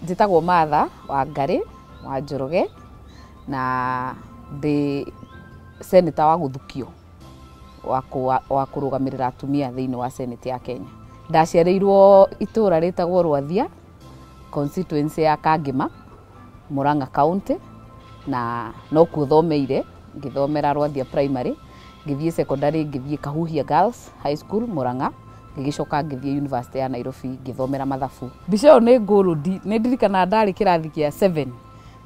Njĩtagwo Martha Wangarĩ wa Njoroge na ndĩ seneta wa gũthukio wa kũrũgamĩrĩra atumia thĩinĩ wa seneti ya Kenya. Ndaciarĩirwo itũra rĩtagwo Rwathia, constituency ya Kangema. Murang'a County na no kuo thomeire, ngĩthomera Rwathia Primary, ngĩthiĩ secondary ngĩthiĩ Kahuhia Girls High School Murang'a, ngĩgĩcoka ngĩthiĩ University ya Nairobi ngĩthomera mathabu. Mbica ĩyo nĩ gold, nĩ ndirikanaga ndarĩ kĩrathi kĩa seven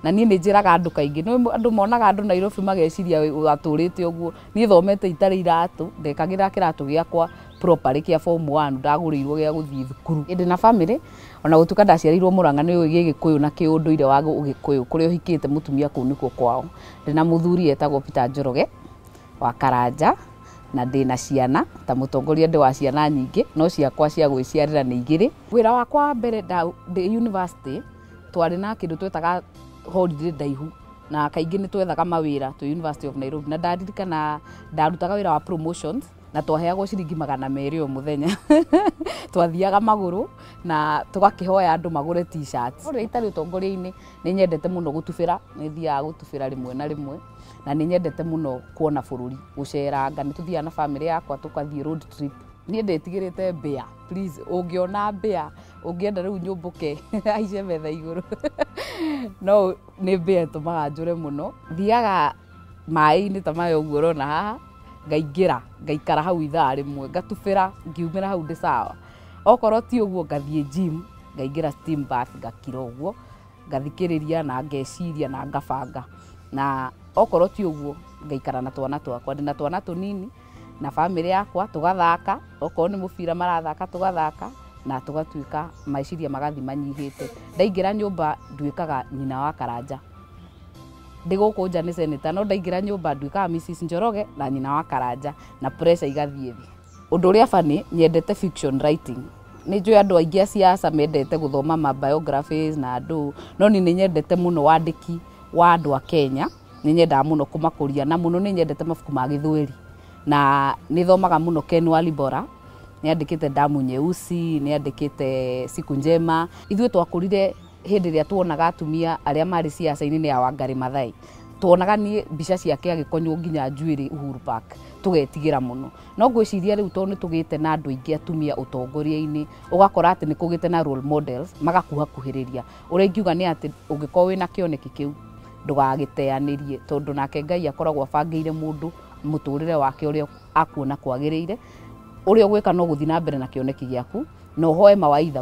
na niĩ nĩ njĩraga andũ kaingĩ, nĩ ũĩ andũ monaga andũ Nairobi mageciria atũrĩte ũguo, niĩ thomete itarĩ iratũ, ndekagĩra kĩratũ gĩakwa properly kĩa form one ndagũrĩirwo gĩa gũthiĩ thukuru. Ndĩ na bamĩrĩ O na gũtuĩka ndaciarĩirwo Mũrang'a, nĩ ũĩ Gĩgĩkũyũ na kĩũndũire wa Ũgĩkũyũ kũrĩa ũhikĩte mũtumia kũu nĩkuo kwao. Ndĩ na mũthuri etagwo Peter Njoroge wa Karanja na ndĩ na ciana. Ta mũtongoria ndĩ wa ciana nyingĩ no ciakwa cia gwĩciarĩra nĩ igĩrĩ. Wĩra wakwa wa mbere ndĩ yunivasĩtĩ twarĩ na kĩndũ twetaga holiday ndaihu na kaingĩ nĩ twethaga mawĩra twĩ University of Nairobi. Na ndaririkana ndarutaga wĩra wa promotions na twaheagwo ciringi magana merĩ o mũthenya twathiaga magũrũ na tũgakĩhoya andũ magũre t-shirt rĩrĩa itarĩ ũtongoria-inĩ nĩ nyendete mũno gũtubĩra nĩ thiaga gũtubĩra rĩmwe na rĩmwe na nĩ nyendete mũno kuona bũrũri gũceranga nĩ tũthiaga na bamĩrĩ yakwa tũgathiĩ road trip niĩ ndĩtigĩrĩte mbĩa please ũngĩona mbĩa ũngĩenda rĩu nyũmbũke haice metha igũrũ no nĩ mbĩa ĩtũmaga njũre mũno thiaga maĩ-inĩ ta maya ũguo ũrona haha ngaingĩra ngaikara hau ithaa rĩmwe ngatubĩra ngiumĩra hau ndĩ sawa okorwo ti ũguo ngathiĩ gym ngaingĩra steam bath ngakira ũguo ngathikĩrĩria na ngeciria na ngabanga na okorwo ti ũguo ngaikara na twana twakwa ndĩ na twana tũnini na bamĩrĩ yakwa tũgathaka okorwo nĩ mũbira marathaka tũgathaka na tũgatuĩka meciria magathiĩ manyihĩte ndaingĩra nyũmba nduĩkaga nyina wa karanja. ndĩ gũkũ nja nĩ seneta no ndaingĩra nyũmba nduĩkaga Mrs Njoroge na nyina wa Karanja na pressure igathiĩ thĩ. Ũndũ ũrĩa funny nyendete fiction writing nĩ njũĩ andũ aingĩ a siasa mendete gũthoma ma biographies na andũ no niĩ nĩ nyendete mũno wandĩki wa andũ a Kenya nĩ nyendaga mũno kũmakũria na mũno nĩ nyendete mabuku ma gĩthweri na nĩ thomaga mũno Ken Walibora nĩ andĩkĩte Damu Nyeusi nĩ andĩkĩte Siku Njema ithuĩ twakũrire hĩndĩ ĩrĩa tuonaga atumia arĩa marĩ ciaca-inĩ nĩ ya Wangari Mathai tuonaga niĩ mbica ciake agĩkonywo nginya njuĩrĩ Uhuru Park tũgetigĩra mũno no ngwĩciria rĩu tondũ nĩ tũgĩte na andũ aingĩ atumia ũtongoria-inĩ ũgakora atĩ nĩ kũgĩte na role models magakuhakuhĩrĩria ũrĩa ingiuga nĩ atĩ ũngĩkorwo wĩna kĩoneki kĩu ndũgagĩteanĩrie tondũ nake Ngai akoragwo abangĩire mũndũ mũtũrĩre wake ũrĩa akuona kwagĩrĩire ũrĩa ũgwĩka no gũthiĩ na mbere na kĩoneki gĩaku na ũhoe mawaitha.